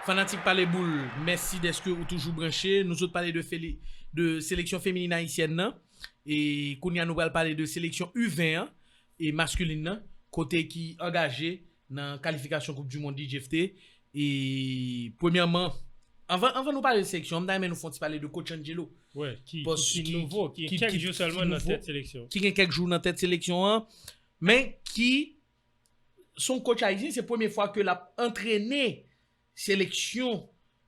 Fanatik pale boul mèsi dèske ou toujou branche nou sot pale de seleksyon feminin ayisyèn nan e kounya nou pral pale de seleksyon u 20 an e maskulin nan kote ki angaje nan kalifikasyon koup du mond li jefte e premyèman anvan nou pale de seleksyon an m ta renmen nou fon ti pale de kotch Angelo ki nouvo ki gen kèk jou nan tèt seleksyon an. Men ki son coach ayisyen se premye fwa ke lap antrene seleksyon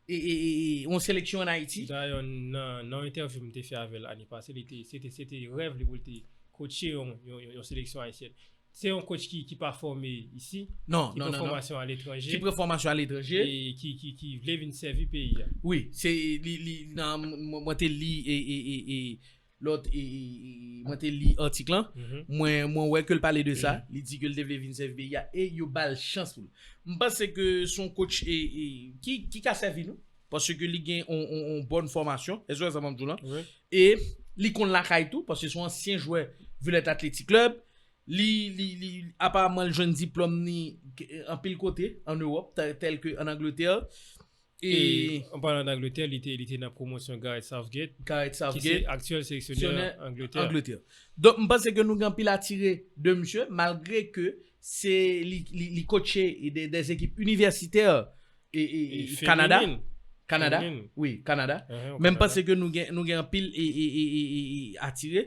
yon seleksyon an Ayiti. Dayè nan yon entèvyou m te fè avè l ane pase li te se te rèv li pou l te kotche yon seleksyon ayisyèn. Se yon coach ki pa fòme isi, ki pran fòmasyon aletranje. Ki pran fòmasyon aletranje. E ki vle vin sèvi peyi a. Wi, se li nan mwen te li e. Lòt mwen te li atik lan, mwen wè ke l pale de sa, li di ke l te vle vin sèvi peyi a e yo ba l chans pou l. M panse ke se yon kotch ki ka sèvi nou, paske li gen yon bòn fòmasyon, èske w wè sa m ap di w lan? E li konn lakay tou, paske se yon ansyen jwè Villette Athletic Club, li aparamman l jwenn diplòm ni anpil kote an Ewòp, tèlke an Angletè. E an palan d'Angletè, li te nan pwomosyon Gareth Southgate, ki se aktyèl seleksyonè Angletè. Donk m panse ke nou gen anpil a tire de misye, malgre ke se li kotche de ekip inivèsitè Kanada. Feminin. Kanada, wi, Kanada. Men m panse ke nou gen anpil a tire.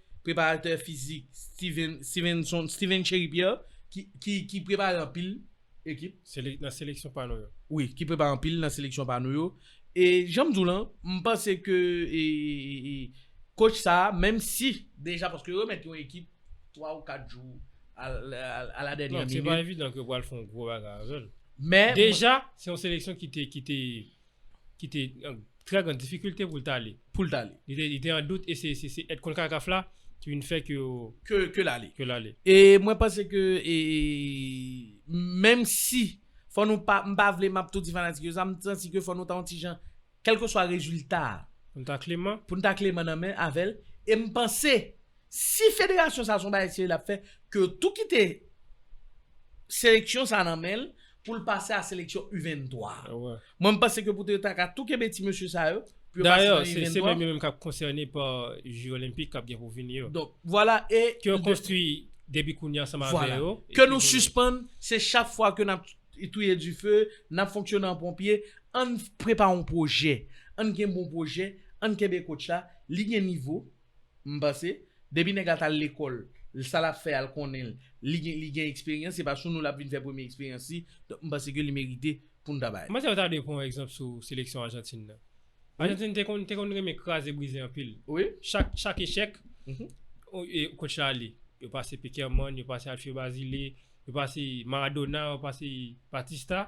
preparatè fizik Steven Chery Pierre ki prepare anpil ekip. Nan seleksyon pa nou yo. Wi, ki prepare anpil nan seleksyon pa nou yo. E jan m di w lan, m panse ke kotch sa a, menm si deja paske yo remèt yon ekip 3 ou 4 jou a la dènyè minit. Se pa evidan ke yo pral fè yon gwo bagay avè l. Deja, se yon seleksyon ki te. ki te an trè gran difikilte pou l t ale. Pou l t ale. Li te an dout e se èd Concacaf la ki vin fè ke. Ke l ale. Ke l ale. E mwen panse ke e menm si fò nou pa m pa vle m ap tou di fanatik yo sa m santi ke fò nou ta yon ti jan kèlkeswa rezilta a. Pou n ta kleman. Pou n ta kleman nan men avè l e m panse Si federasyon sa son bagay serye lap fè ke yo tou kite seleksyon sa nan menl poul pase a seleksyon u 23. Mwen m panse ke poutèt yo ta ka tou kenbe ti mesye sa yo pou yo pase nan u 23. Dayè se menm yo menm kap konsène pa ju olenpik kap gen pou vini yo. Donk vwala e. Ke yo konstwi depi kounye a ansanm avè yo. Ke nou sispann se chak fwa ke nap touye dife, nap fonksyone an ponpye, ann prepare yon pwojè, ann gen bon pwojè, ann kenbe kotch la, li gen nivo. M panse Depi nèg la tal lekòl l sa lap fè a l konnen l li gen li gen eksperyans se pa sou nou lap vin fè premye eksperyans li donk m panse ke li merite pou n ta bay. M panse yo ta dwe pran egzanp sou seleksyon Ajantin nan. Ajantin te konn te konn renmen kraze brize anpil. Chak chak echèk kotch la ale. Yo pase Pekerman, yo pase Alfio Bazile, yo pase Maradona, yo pase Batista.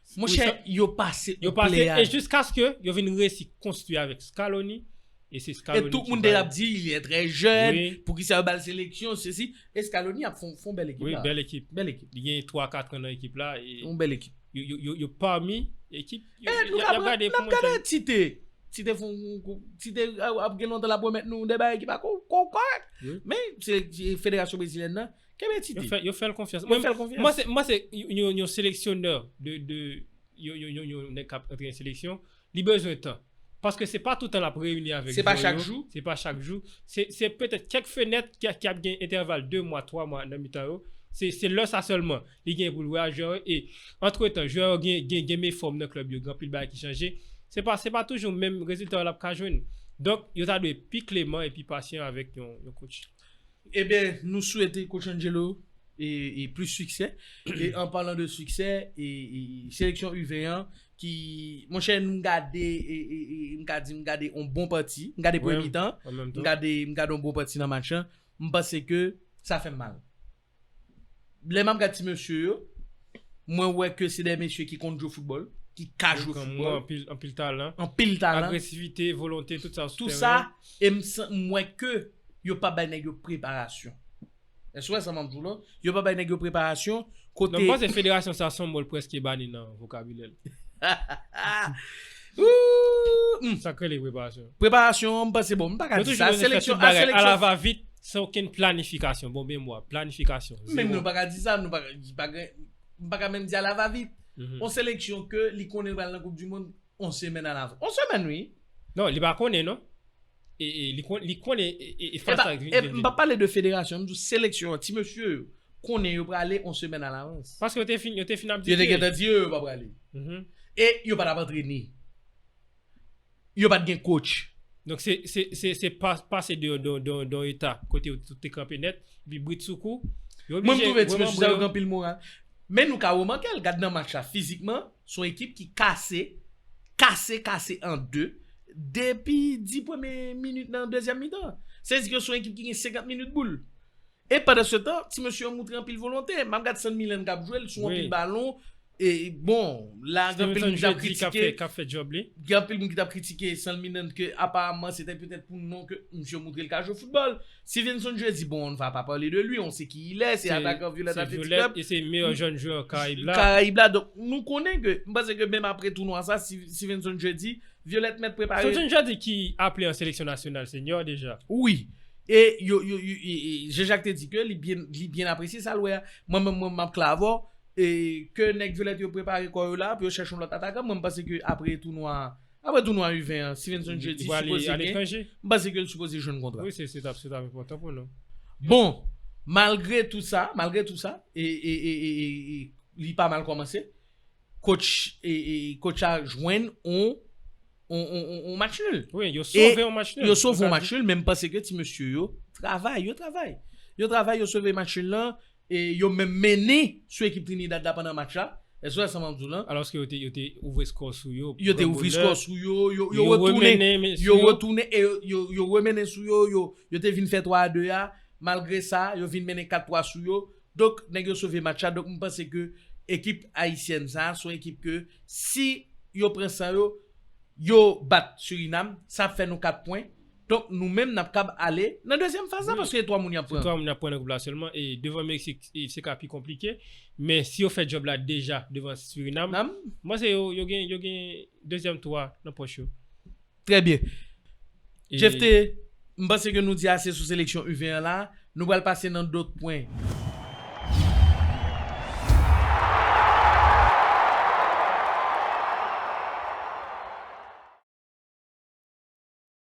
Monchè yo pase yo pase e jiskaske yo vin resi konstwi avèk Scaloni e se Scaloni e tout moun te ap di li trè jèn poukisa yo bal seleksyon sesi e Scaloni ap fon bèl ekip la bèl ekip bèl ekip li gen 3 4 an nan ekip la yon bèl ekip yo pami ekip e nou ap gade nou ap gade tite tite fon tite ap gen lontan la pwomèt nou de bagay ki pa kon kòrèk men se federasyon brezilyen nan. Kenbe ti di. Yo fèl konfyans. Yo fèl konfyans. Mwen se, mwen se yon seleksyonè de, de, yon nèg kap antre nan seleksyon, li bezwen tan. Paske se pa toutan lap reyini avèk jwè yo. Se pa chak jou. Se pa chak jou. Se petèt kèk fenèt ki ap gen entèval 2 mwa, 3 mwa nan mitan yo. Se lè sa sèlman li gen pou l wè ak jwè yo. E antretan jwè yo gen, gen game fòm nan klèb yo, gen anpil bagay ki chanje. Se pa, se pa toujou menm rezilta yo lap ka jwenn. Donk yo ta dwe pi kleman e pi pasyan avèk yon, yon coach. Eben nou swete coach Angelo e plis siksè e an palan de siksè e seleksyon u 20 an ki monchè m gade e m ka di m gade on bon pati m gade premye mitan m gade m gade on bon pati nan match lan m panse ke sa fè m mal lè map gad ti mesye yo mwen wè ke se de mesye ki konn jwe foutbòl ki ka jwe foutbòl anpil talan agresivite volonte tout sa sou teren an tou sa e m wè ke. yo pa bay nèg yo preparasyon. Èske w wè sa m ap di w la? Yo pa bay nèg yo preparasyon kote. Non, m panse federasyon sa son mo l prèske bani nan vokabilè l. Ooh! Sa k rele preparasyon? Preparasyon, m panse bon, m pa ka di sa. Seleksyon, a seleksyon. Nou toujou bezwen fè tout bagay alavavit, san okenn planifikasyon. Bon memwa, planifikasyon, zewo. Menm nou pa ka di sa, nou pa ka, li pa gen, m pa ka menm di alavavit. On seleksyon ke li konnen l pral nan koupdimonn on semèn alavans. On semèn wi! Non, li pa konnen non. E li konnen e fas sa. E m pa pale de federasyon, m di w seleksyon an, ti mesye yo konnen yo prale yon semèn alavans. Paske yo te fin ap di ke. Yo te gentan di yo yo pa prale. E yo pa t ap antrene. Yo pa t gen kotch. Donk se pase de yon eta kote yo te kanpe nèt, epi britsoukou. Mwen m twouve ti mesye sa yo gen anpil moral. Men nou ka remanke l, gad nan match la fizikman. Se yon ekip ki kase, kase, kase an 2 depi 10 premye minit nan dezyèm mitan. Sa vle di ke se yon ekip ki gen 50 minit boul. E pandan se tan, ti mesye yo moutre anpil volonte. M ap gad San Milan k ap jwe, l sou anpil balon. E bon, la gen anpil moun k ap kritike. Gen anpil moun ki t ap kritike San Milan ke aparamman se te petèt pou non ke misye moutre l ka jwe foutbòl. Stevenson Jeudi bon on ne va pas parler de lui on sait qui il est se atakan Violette Athletic Club. Se Violette e se meyè jèn jwè Karayib la. Karayib la donk nou konnen ke m panse ke menm apre tounwa sa Stevenson Jeudi Violette mèt prepare. Stevenson Jeudi ki aple an seleksyon nasyonal senior deja. Wi e yo yo Jean Jacques te di ke li byen li byen apresye sa l wè a mwen menm mwen map k la avè w e ke nèg Violette yo prepare kò yo la pou yo chèche on lòt atakan mwen m panse ke apre tounwa a. Aprè tounwa U20 an, Stevenson Jeudi sipoze gen, m panse ke l sipoze jwenn kontra. Wi, se t ap enpòtan pou nou. Bon, malgre tout sa, malgre tout sa, li pa mal kòmanse, kotch la jwenn yon match nul. Wi, yo sove yon match nul. Yo sove yon match nul, men m panse ke ti mesye yo travay, yo travay. Yo travay, yo sove match nul lan, E yo menm mennen sou ekip Trinidad la pandan match la. SOS sa map diw lan. Alòske yo te yo te ouvri skò sou yo. Yo te ouvri skò sou yo, yo yo retounen, yo retounen e yo yo remennen sou yo, yo yo te vin fè 3 a 2 a, malgre sa yo vin mennen 4 3 sou yo, donk nèg yo sove match la, donk m panse ke ekip ayisyèn sa son ekip ke si yo pran san yo, yo bat Surinam, sa ap fè nou 4 pwen. Donk nou menm n ap kab ale nan dezyèm faz la paske se 3 moun y ap pran. Se 3 moun y ap pran nan gwoup la sèlman e devan Meksik se ka pi konplike. Men si yo fè djòb la deja devan Surinam, m panse yo gen yo gen dezyèm tou a nan pòch yo. Trè byen. Jefte, m panse ke nou di ase sou seleksyon U20 an la. Nou pral pase nan dòt pwen.